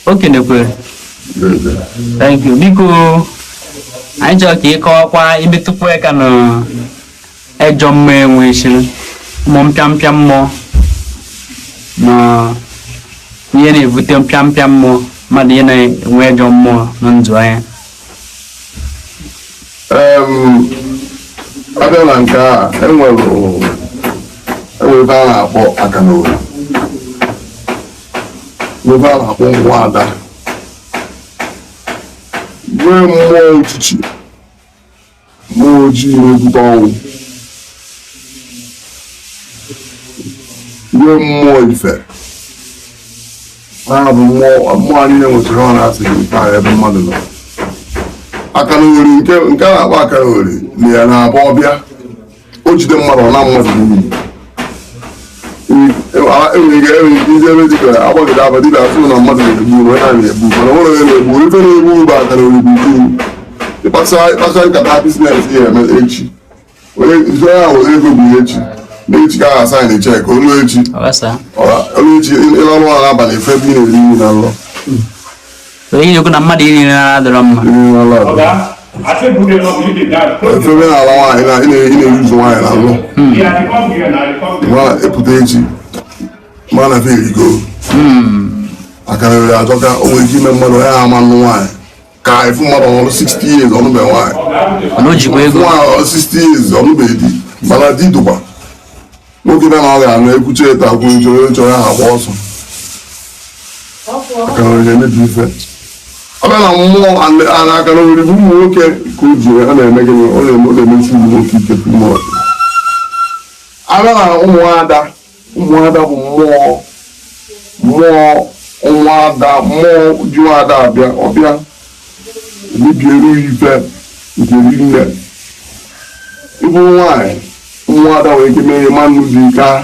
o kenekwere thank you biko anyị chọrọ ka ị kọwakwa imetụkwa aka na ejọ mmụọ e nwechiri mmụọ mpịampịa mmụọ na ihe na-ebute mpịampịa mmụọ mmadụ ihe na-enwe ejọ mmụọ na ndụ ya Em, a bịa na nke a enwere enwere ebe a na-akpọ akalogoli nke a na-akpọ nwa ada nwee mmụọ ọchịchị mmụọ ojii na-ebute ọnwụ nwee mmụọ ife na bụ mmụọ anyị na-enwetara ọ na-asị gị nke a ebe mmadụ nọ akalogoli nke a na-akpọ akalogoli na ya na-abụ ọbịa o jide mmadụ ọ naa mmadụ n'iyi enwere ike enwere ike iji ebe dịka agbagide aba dịka a fụ na mmadụ na-egbu onwe ha na-egbu mana nwere onye na-egbu ife na-egbu bụ akalogoli iwu ị kpasịa ị kpasịa nkata biznes ya eme echi onye ife ya were ego bụ ihe echi n'echi ka a ga-sign cheque o lu echi ọ gbasaa o lu echi ị lalụ ụla abalị ị fụ ebe ị na-eri nri na nlọ Onye na-ekwu na mmadụ iri nri ụra adịrọ mma. ị fụ ebe ị na-ala nwaanyị na ị na-eri ụzọ nwaanyị n'ụla ma epụta echi ma na ife erigo maka na ere ajọka o nwere ike ime mmadụ onye ama anụ nwaanyị ka ị fụ mmadụ o ruo 60 years ọ nụbe nwaanyị Mana o jikwa ego. nwaanyị eruo 60 years ọ nụbe di mana di dụkwa nwoke bịa na ọ ga-anụ ekwuchi eto akwụ nje onye chọrọ ya agba ọsọ akalogoli emebi ife ọ bịa na mmụọ ala akalogoli bụ ụmụ nwoke ka o ji a na-eme gịnị ọ na-eme ọ na-emechi ụmụ nwoke ike pụmọ a bịa na ụmụada ụmụada bụ mmụọ mmụọ nwa ada mmụọ ju ada abịa ọbịa mebiere ya ife nke rinne ị bụ nwaanyị ụmụada nwere ike mee ị ma anụ di ike ahụ.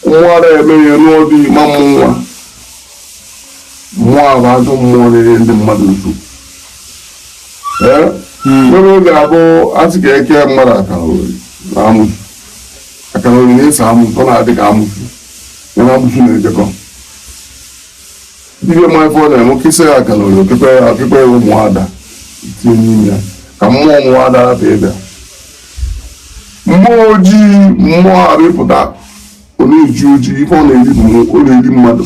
ụmụada emee ị nụọ di ị ma amụ nwa mmụọ a bụ ajọ mmụọ na-enye ndị mmadụ nsogbu Ee? nwere oge a bụ a sị ka e kee mmadụ akalogoli na amụsụ akalogoli na-eso amụsụ ọ na-adị ka amụsụ ya na amụsụ na-ejekọ Ibe ma ife ọ na-eme o kesịa akalogoli okpukpe okpukpe ya ụmụada tinye n'ime ya ka mmụọ ụmụada rapụ ị bịa mmụọ ojii mmụọ arịpụta ọ na-eji ojii ife ọ na-eri bụ ọ na-eri mmadụ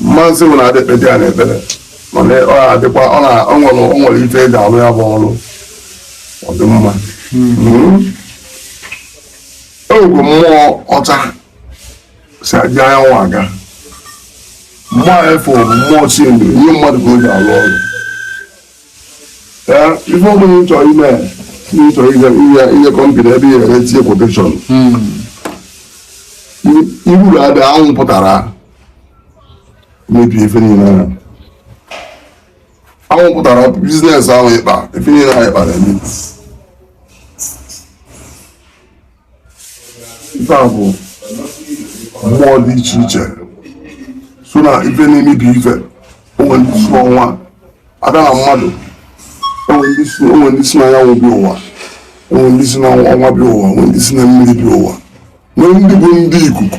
mmasị nwere adịkpedị ya n'ekpere mana ọ na-adịkwa ọ na- ọ nwere ọ nwere ife eji alụ ya bụ ọrụ ọ dị mma Mm. ewego mmụọ ọcha si aja anyanwụ aga mmụọ efe bụ mmụọ Chineke nye mmadụ ka o ji alụ ọrụ ee ife ọbụla ị chọrọ ime na ị chọrọ inye inye inye company ebe ị ga-etinye quotation iburu ada anwụ pụtara mebie ife niile ahụ anwụ pụtara business ahụ ịkpa ife niile ahụ ịkpa na-eme ife a bụ mmụọ dị iche iche so na ife na-emebi ife o nwere ndị si n'ọnwa abịa na mmadụ o nwere ndị si o nwere ndị si n'anyanwụ bịa ụwa o nwere ndị si n'ọnwa bịa ụwa o nwere ndị si na mmiri bịa ụwa nwee ndị bụ ndị ikuku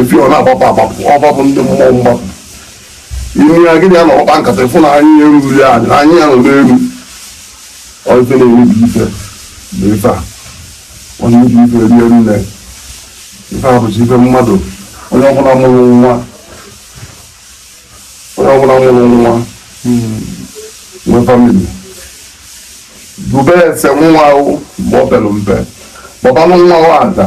ife ọ na-agbapụ agbapụ ọgbapụ ndị mmụọ mgbapụ ime ya gị na ya na-akpa nkata ịfụ na anyị ya eruru ya anyị anyị ya nọ n'elu ọ ife na-emebi ife na ife a ọ na-emebi ife rie nne ife a bụchi ife mmadụ onye ọbụla mụrụ nwa onye ọbụla mụrụ nwa nwee family dube ese nwa ahụ mgbe ọ pere mpe kpọbanụ nwa ahụ ada